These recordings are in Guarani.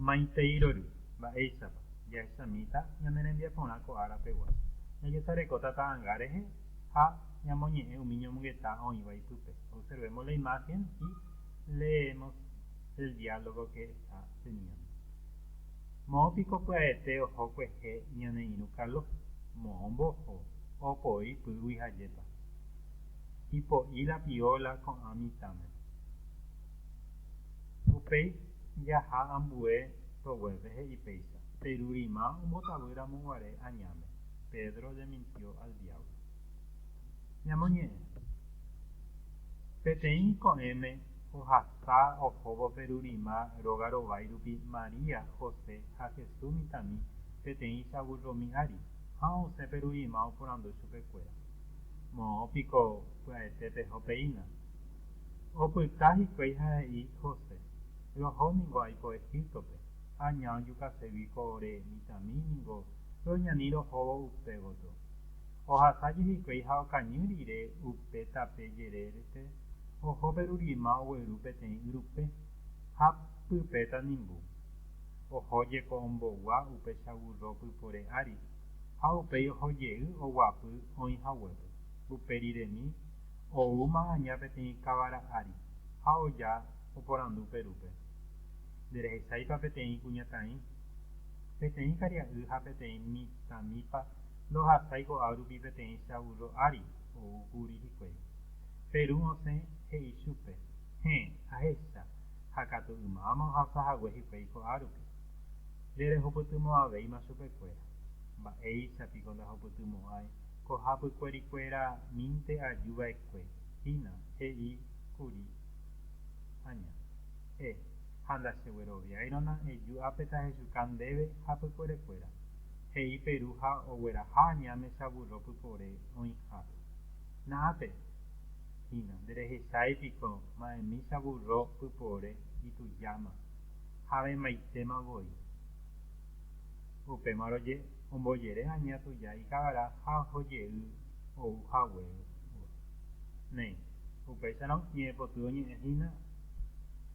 Maitei rory, mba'éichapa jahechamíta ñane rembiaporã ko árape guácho, jajesarekóta ta'anga rehe ha ñamoñe'ẽ umi ñomongeta oĩva ipype. Observemos la imagen y leemos el diálogo que está teniendo. Moõ piko pya'ete oho kuehe ñane irũ kalo? Moõ mboho, opoi pýgui ha jepa. Ipo'i la piola ko'ã mitãme. Upéi jaha ambue roguépe he'i péicha, Perurima ombotavy ramo guare añáme, Pedro jamintió al diablo. Ñamoñe'ẽ. Peteĩ ko'ẽme ohasa ohóvo perurima róga rovái rupi María, José ha Jesús mitãmi peteĩcha vulromi ári, ha osẽ perurima oporandu chupekuéra, Moõ piko pya'ete peho peína? Opyta hikuái ha he'i José, Roho ningo aipo Egíptope, aña ojukasegui ko ore mitãmi ningo roñani rohóvo upe gotyo. Ohasáje hikuái ha okañy rire upe tape jerérepe oho pe rurima ogueru peteĩ yrupe, ha pype tanimbu. Oho jeko ombogua upe chaburro pypore ári, ha upéi oho jey oguapy oĩ haguépe, upe riremi Ou Magaña peteĩ kavara ári ha oja oporandu Perúpe, Nde rehecháipa peteĩ kuñataĩ? Peteĩ karia'y ha peteĩ mitãmipa ndohasái ko'ág̃a rupi peteĩcha vúrro ári ou kuri hikuái. Perú osẽ he'i chupe, Héẽ, ahecha, ha katu ymáma ohasa hague hikuái ko'ág̃a rupi. Nde rehupytymo'ãvéima chupekuéra. Mba'éicha piko ndahupytymo'ãi? Ko hapykuérikuéra mínte aju va'ekue hína, he'i kuri aña, E, ha ndachegueroviáirona eju ápe tahechuka ndéve hapykuérekuéra, he'i Peru ha ogueraha aña mesa vúrro pypore oĩhápe. Na'ápe hína, nderehechái piko ma'e misa vúrro pypore itujáma ha avemaitéma voi. Upémarõ je'e. ombojere aña tuja ikavara ha oho jey ou haguévo. Néi, upéicharõ ñe'ẽ poty oñe'ẽ hína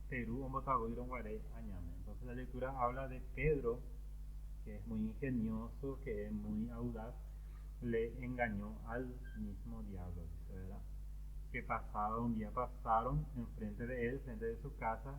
pe ru ombotavýirõ guare añáme. Entonces la lectura habla de Pedro que es muy ingenioso, que es muy audaz, le engañó al mismo diablo, dice, ¿verdad? Que pasado un día pasaron en frente de él, frente de su casa,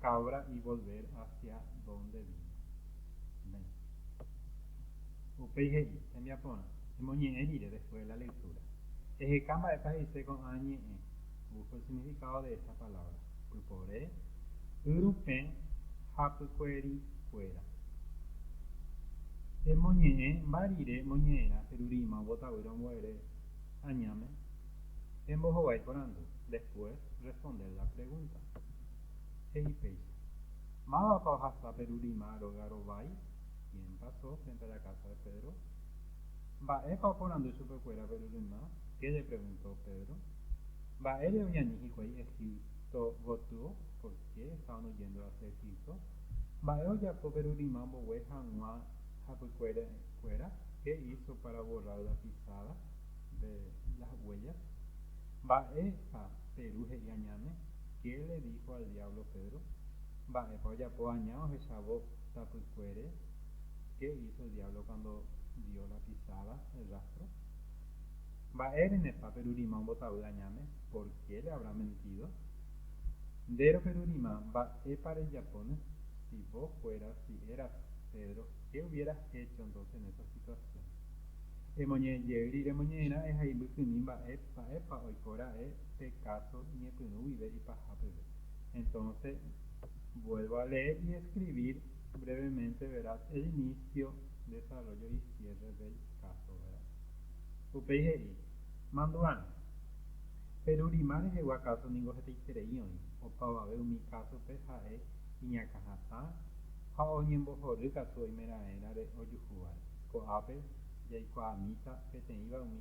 Cabra y volver hacia donde vino. Amén. Upéi he'i, Hembiaporã, emoñe'ẽ rire después de la lectura. Eheka mba'épa he'ise ko'ã ñe'ẽ, busco el significado de esta palabra, pypore, yrupẽ ha pykuerikuéra. Emoñe'ẽ mba rire moñe'ẽrã Perurima ombotavýre ombo'ere añáme, embohovái porandu, después responder la pregunta. He'i péicha, Mávapa ohasa pe rurima róga rovái? Quién pasó frente a la casa de Pedro? Mba'épa oporandu chupekuéra pe rurymá? Qué le preguntó Pedro? Mba'ére oñani hikuái Egipto gotyo? Por qué estábano yendo hacia Egipto? Mba'e ojapo pe rurymá ombogue hag̃ua hapykuérekuéra? Qué hizo para borrar la pisada de las huellas? Mba'épa pe ru he'i añáme? Qué le dijo al diablo Pedro? Mba'épa ojapo aña ohechávo tapykuére? Qué hizo el diablo cuando vio la pisada, el rastro? Mba'e renepa perurima ombotavy añáme? Por qué le habrá mentido? Ndéro perurima mba'épa rejapóne? Si vos fueras, si eras Pedro, qué hubieras hecho entonces en esa situación? Emoñe'ẽ jey rire moñe'ẽra'e ha imbykymi mba'e, mba'épa oiko ra'e pe káso iñepyrũ guive ipaha peve. Entonce, vuelvo a leer y escribir brevemente, verás, el inicio, desarrollo y cierre del caso, verás. Upéi he'i, Mandu'arã, Perurima rehegua káso ningo hetaiterei oĩ, opavave umi kásope ha'e iñakãhatã ha oñembohory katu oimeraẽrare ojuhúvare. Ko'ápe jaikuaamíta peteĩva umi.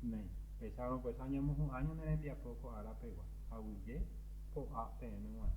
Néi, echárõ pues añemohu'ã ñane rembiapo ko ára pegua, aguyje po'a peẽme g̃uarã.